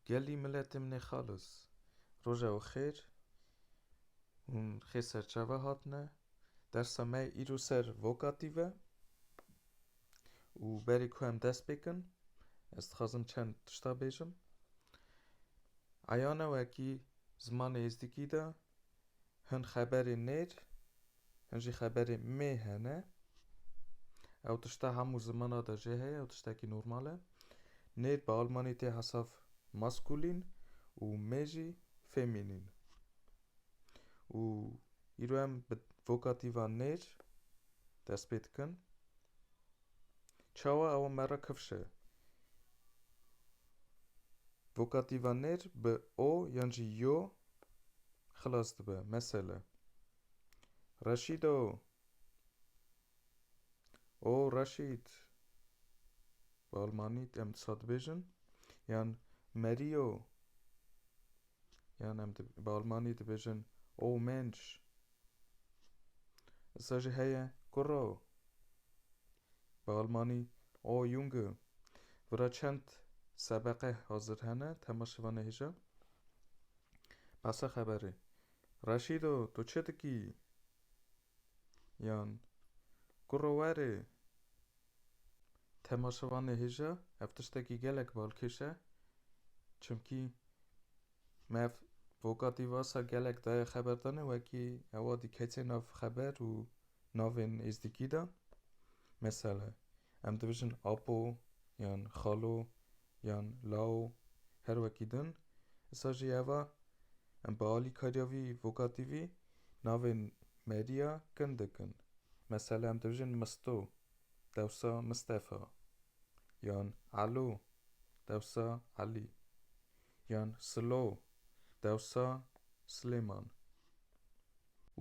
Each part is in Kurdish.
Gelî miletê min ê xalis. Roja we xêr. Hûn xê serçave hatine. Dersa me îro ser vokatif e. Û berê ku em dest pê kin, ez dixwazim çend tişta bêjim. Eyane wekî zimanê êzdikî de Hin xeberê nêr, hin jî xeberê mê hene. Ew tişta hemû zimana de jê heye, ew tiştekî normal e. Nêr bi almanî tê hesav maskulîn û mê jî femînîn. Û îro em bi vokatîva nêr dest pê dikin. Çawa ew merra kifş e. Vokativa nêr bi o yan jî yo xilas dibe. Mesele. Reşîdo! O Reşîd! Bi almanî em disa dibêjin yan Merîyo! Yan em bi almanî dibêjin O Mensch! Îsa jî heye kurra o. Bi almanî, O Junge! Vira çend sebeqe hazir hene, temaşê van e hêja. Behsa xeberê. Reşîd o, tu çi dikî? Yan, Kurro werê! Temaşê van e hêja, ev tiştekî gelek balkêş e, çimkî Mev, vokatîvasa gelek daye xeberdane wekî ewa dikece nav xeber û navên êzdîkî de. Mesele, em dibijin apo yan xalo yan lao her wekî din. Isa jî eva em bi alîkariya vî vokatîvî navên merîya kin dikin. Mesele em dibijin misto dewsa Mistefa yan elo dewsa Elî. Yan Silo, dewsa Silêman.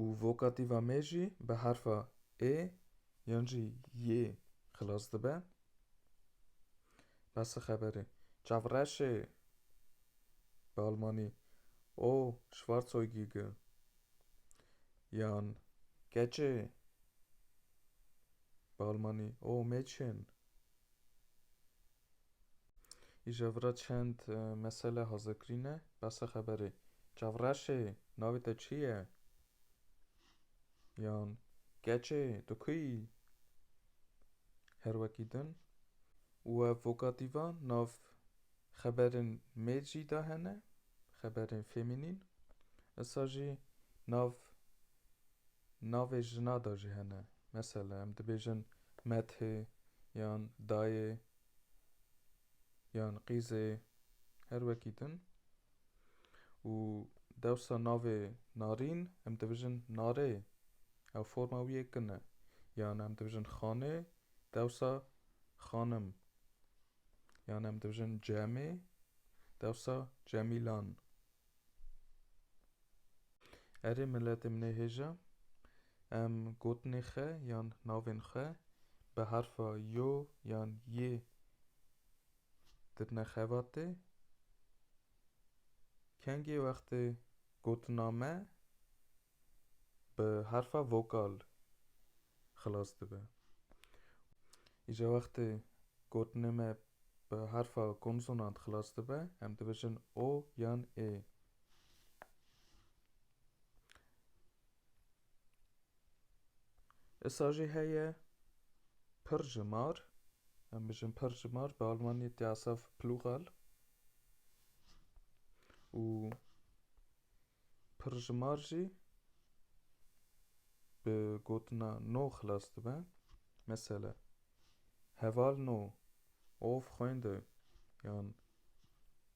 Û vokatîva mê jî bi herfa ê yan jî yê xilas dibe. Bes e xeberê. Çavreşê, bi almanî, O Schwarzäugige. Yan Keçê, bi almanî, O Mädchen. Îjevra çend mesele hazekirîne behsa xeberê. Çavreşê, navê te çi ye? Yan Keçê, tu ku yî? Her wekî din û ev vokatîvan nav xeberên mêr jî de hene, xeberên femînîn. Esa jî nav Navê jina de jî hene. Mesela em dibêjin Methê yan Dayê yan Qîzê her wekî din. Û dewsa navê Narîn em dibijin Narê. Ew forma wî yê kin e. Yan em dibijin Xanê dewsa Xanim. Yan em dibijin Cemê dewsa Cemîlan. Erê miletê min ê hêja, em gotinê xe yan navên xwe bi herfa yo yan yê dirine xevatê. Kengê wextê gotina me. bi herfa vokal xilas dibe. Îca wextê gotinê me bi herfa konsonant xilas dibe, em dibêjin o yan ê. Isa jî heye pir ji mar, em bijin pir ji mar, bi almanî Diasav Plural û Pirjimar jî bi gotina no xilas dibe. Mesele, Heval no, Ow Freunde yan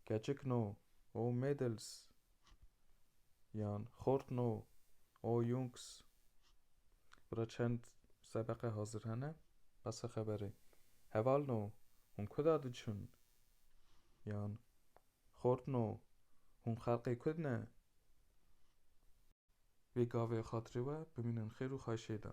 Keçik no, Ow Mädels yan Xort no, Ow Jungs. Bira çend sebeqe hazir hene, besa xeberê. Heval no, Hûn kuda diçûn? yan. Xortno, hûn xelqê Kurd ne? Vê gavê xatirê we bimînin xêr û xahişê de.